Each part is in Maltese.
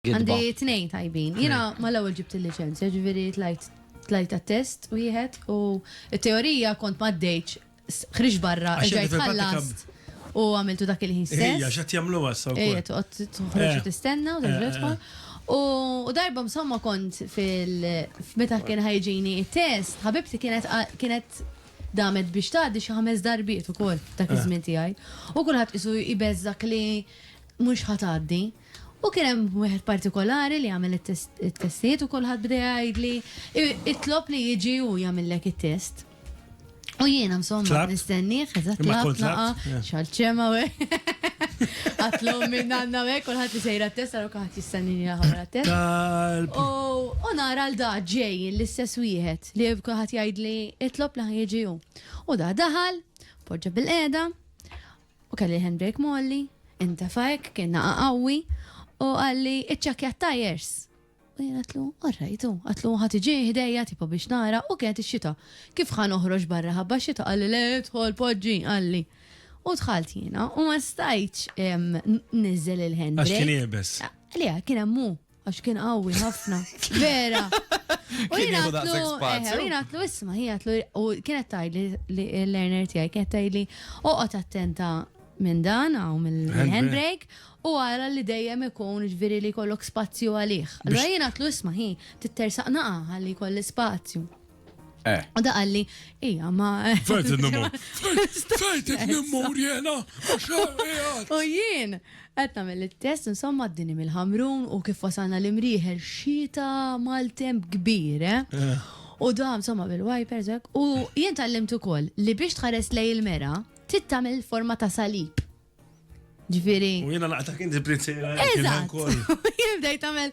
Gidba. Għandi tnejn tajbin. Jiena mal-ewwel ġibt il-liċenzja, ġifieri tlajt tlajt għat-test wieħed u t-teorija kont ma għaddejtx, s- ħriġt barra, Għax erġajt inti fil-prattika- ħallast u għamiltu dak il-ħin Ejja, stess. x'qed jagħmluha issa Ejja, wkoll. toqgħod toħroġ Eh. u tistenna u terġa' Eh, tidħol. U u darba msomma kont fil f- meta kien ħajġini t-test, ħabibti kienet qa- kienet damet biex tgħaddi xi ħames darbiet ukoll dak Eh. iż-żmien tiegħi. U kulħadd qisu jbeżżgħek li mhux ħa tgħaddi. U kien hemm wieħed partikolari li għamel it-testijiet u kulħadd bda jgħidli, itlob li jiġi hu jagħmillek it-test. U jiena msomma nistennieh, eżatt tlabt naqa' xalċema u Għatlu minn għanna u hekk kulħadd li sejra t-test għal kulħadd jistennini għamela t-test. U nara l da ġej l-istess wieħed li kulħadd jgħidli itlob li ħajġi hu. U da daħal, poġġa bil-qeda, U kelli l-handbrake molli, intefa hekk, kien naqa' qawwi, u qalli iċċakkja t-tajers. U jien għatlu, orrajtu, għatlu ħat iġi ħdejja tipo biex nara u kienet ix-xita. Kif ħa noħroġ barra ħabba xita qalli le idħol poġġi qalli. U dħalt jiena u ma stajtx nizzel il-handbrake. Għax kien iebes. Li kien hemm Għax kien qawwi ħafna. Vera. U jien għatlu, isma, hi għatlu, u kienet tajli li l-learner tijaj, kienet tajli, oqot attenta minn dan, għaw mill-handbrake, u għara li dejjem ikun ġviri li kollok spazju għalih. Allora jien għatlu isma, hi, tittersaq naqa għalli kolli spazju. Eh. U da għalli, ija, ma. Fejt n-nummu. Fejt n-nummu jena. U jien, għetna mill-test, insomma, d-dini mill-ħamrun u kif wasalna l-imriħer xita mal-temp kbir, eh? eh. U da, insomma, bil-wipers, eh? u jien tal-limt ukoll li biex tħares lej il-mera, tittamil forma ta' salib. Ġviri. U jena laqta kien di prizzera. Eżat. Jibdej tamel.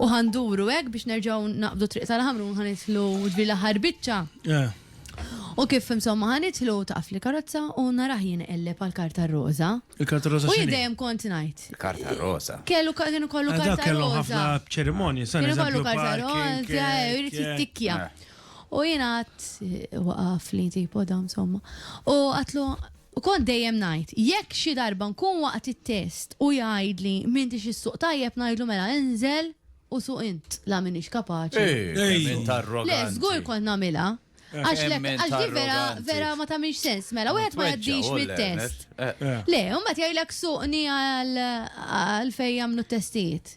U ħanduru hekk biex nerġgħu naqbdu triq tal-ħamru ħanitlu ġbir l-aħħar biċċa. Eh. U kif insomma ħanitlu taqaf li karozza u naraħ jien qelleb għal karta roza. Il-karta roza. U jidejjem kont ngħid. Karta roza. Kellu kienu kollu eh, karta roza. Kellu ħafna ċerimonji, sa' Kienu kollu karta roza, eh, jrid jittikja. Eh. U jien għat waqaf li tipo da insomma. U għatlu U kont dejjem ngħid, jekk xi darba nkun waqt it-test u jgħidli m'intix issuq tajjeb ngħidlu mela inżel u suq int, la m'iniex kapaċi. Kemm int arroganti. Le, żgur kont nagħmilha. Għax le, għax din vera, vera ma tagħmilx sens, mela wieħed ma jgħaddix mit-test. Le, u mbagħad jgħidlek suqni għal fejn jagħmlu t-testijiet.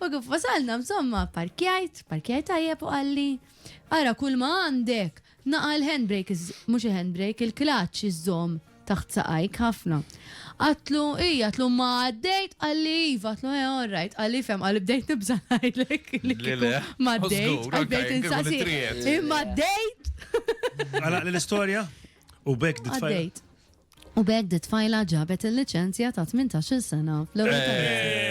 U kif wasalna msomma pparkjajt, pparkjajt tajjeb u qalli, Ara kulma għandek! Naqa' l-handbrake, mhux il-handbrake, il-klaċċ iżżomm taħt saqajk ħafna. Għadtlu, ija, għadtlu ma għaddejt? Qalli iva, għadtlu eh, all right. Qalli ifhem, qalli bdejt nibża' ngħidlek li kieku ma għaddejt, qalli bdejt insaqsi, imma għaddejt? Għalaqli l-istorja u b'hekk ditfajt. Għaddejt. u b'hekk dit-tfajla ġabet il-liċenzja ta' tmintax-il sena fl-ewwel karozza.